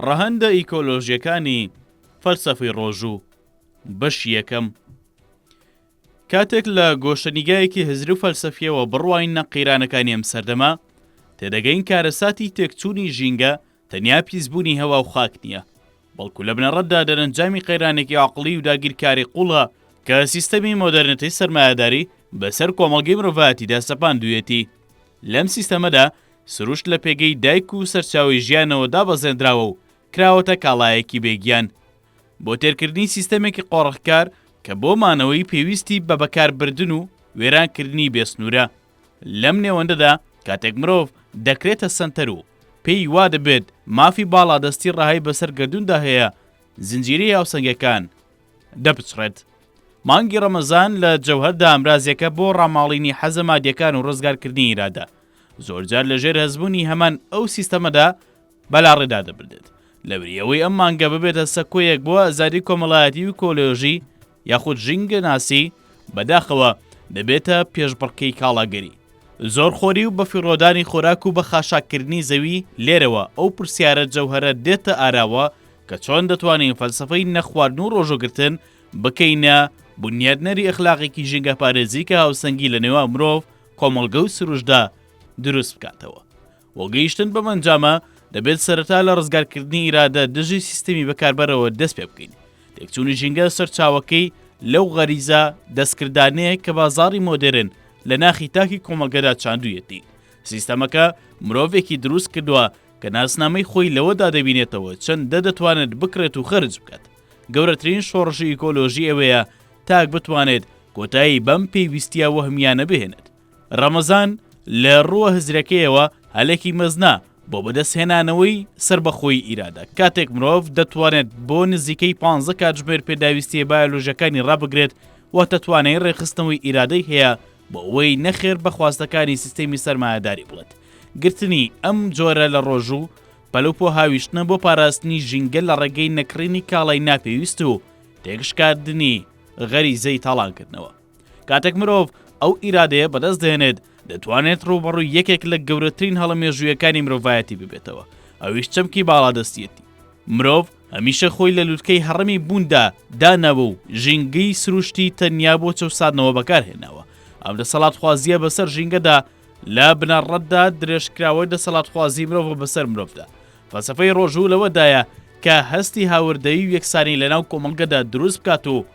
ڕەهەندە ئیکۆلۆژیەکانی فەلسەفەی ڕۆژوو بەش یەکەم کاتێک لە گۆشەنیگایەکی هزر و فەلسەفیەوە بڕواین نە قەیرانەکانی ئەم سەردەما تێدەگەین کارەساتی تێکچوونی ژینگە تەنیا پیسبوونی هەوا و خاک نییە، بەڵکو لە بنەڕەتدا دەرەنجامی قەیرانێکی عەقڵی و داگیرکاری قووڵە کە سیستەمی مۆدێرنتەی سەرمایەداری بەسەر کۆمەڵگەی مرۆڤایەتیدا سەپاندوویەتی. لەم سیستەمەدا سروشت لە پێگەی دایک و سەرچاوەی ژیانەوە دابەزێندراوە و کراوەتە کاڵایەکی بێ گیان. بۆ تێرکردنی سیستەمێکی قۆرخکار کە بۆ مانەوەی پێویستی بە بەکاربردن و وێرانکردنی بێسنوورە، لەم نێوەندەدا کاتێک مرۆڤ دەکرێتە سەنتەر و پێی وا دەبێت مافی باڵادەستی ڕەهای بەسەر گەردووندا هەیە، زنجیرەی هاوسەنگەکان دەپچڕێت. مانگی ڕەمەزان لە جەوهەردا ئامرازێکە بۆ ڕاماڵینی حەزە مادیەکان و ڕزگارکردنی ئیرادە. زۆرجار لە ژێر هەستبوونی هەمان ئەو سیستەمەدا بەلاڕێدا دەبردێت. لەبری ئەوەی ئەم مانگە ببێتە سەکۆیەک بۆ ئازادی کۆمەڵایەتی و کۆلۆژی، یاخود ژینگە ناسی، بەداخەوە دەبێتە پێشبڕکێی کاڵاگەری. زۆر خۆری و بەفیڕۆدانی خۆراک و بەخاشاک کردنی زەوی، لێرەوە ئەو پرسیارە جەوهەرە دێتە ئاراوە کە چۆن دەتوانین فەلسەفەی نەخواردن و ڕۆژووگرتن بکەینە بونیادنەری ئەخلاقێکی ژینگەپارێزی کە هاوسەنگی لەنێوان مرۆڤ، کۆمەڵگە و سروشتدا دروست بکاتەوە؟ بۆ گەیشتن بەم ئەنجامە، دەبێت سەرەتا لە ڕزگارکردنی ئیرادە دژی سیستەمی بەکاربەرەوە دەست پێ بکەین. تێکچوونی ژینگە سەرچاوەکەی لەو غەریزە دەستکردانەیە کە بازاڕی مۆدێرن لە ناخی تاکی کۆمەڵگەدا چاندوویەتی. سیستەمەکە مرۆڤێکی دروست کردووە کە ناسنامەی خۆی لەوەدا دەبینێتەوە چەندە دەتوانێت بکڕێت و خەرج بکات. گەورەترین شۆڕشی ئیکۆلۆژی ئەوەیە تاک بتوانێت کۆتایی بەم پێویستییە وەهمییانە بهێنێت. ڕەمەزان لە ڕووە هزرەکەیەوە هەلێکی مەزنە بۆ بەدەستهێنانەوەی سەربەخۆیی ئیرادە. کاتێک مرۆڤ دەتوانێت بۆ نزیکەی پانزە کاتژمێر پێداویستییە بایۆلۆژییەکانی ڕابگرێت، واتە توانای ڕێکخستنەوەی ئیرادەی هەیە بۆ ئەوەی نەخێر بە خواستەکانی سیستێمی سەرمایەداری بڵێت. گرتنی ئەم جۆرە لە ڕۆژوو، پەلوپۆ هاویشتنە بۆ پاراستنی ژینگە لە ڕێگەی نەکڕینی کاڵای ناپێویست و تێکشکاندنی غەریزەی تاڵانکردنەوە. کاتێک مرۆڤ ئەو ئیرادەیە بەدەست دێنێت دەتوانێت ڕووبەڕووی یەکێک لە گەورەترین هەڵە مێژوویەکانی مرۆڤایەتی ببێتەوە ئەویش چەمکی باڵادەستیەتی مرۆڤ هەمیشە خۆی لە لوتکەی هەڕەمی بووندا داناوە و ژینگەی سروشتی تەنیا بۆ چەوسادنەوە بەکارهێناوە ئەم دەسەڵات خوازیە بەسەر ژینگەدا لە بنەڕەتدا درێژکراوەی دەسەڵاتخوازی مرۆڤ بەسەر مرۆڤدا فەسەفەی ڕۆژوو لەوەدایە کە هەستی هاوردەوی و یەکسانی لەناو کۆمەڵگەدا دروست بکات و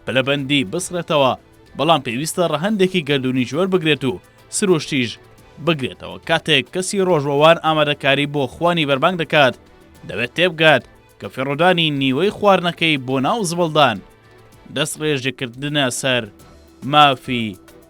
پلەبەندی بسڕێتەوە، بەڵام پێویستە ڕەهەندێکی گەردوونیش وەربگرێت و سروشتیش بگرێتەوە، کاتێک کەسی ڕۆژوەوان ئامادەکاری بۆ خوانی بەربانگ دەکات، دەبێت تێبگات کە فڕۆدانی نیوەی خواردنەکەی بۆ ناو زبڵدان دەستڕێژکردنە سەر مافی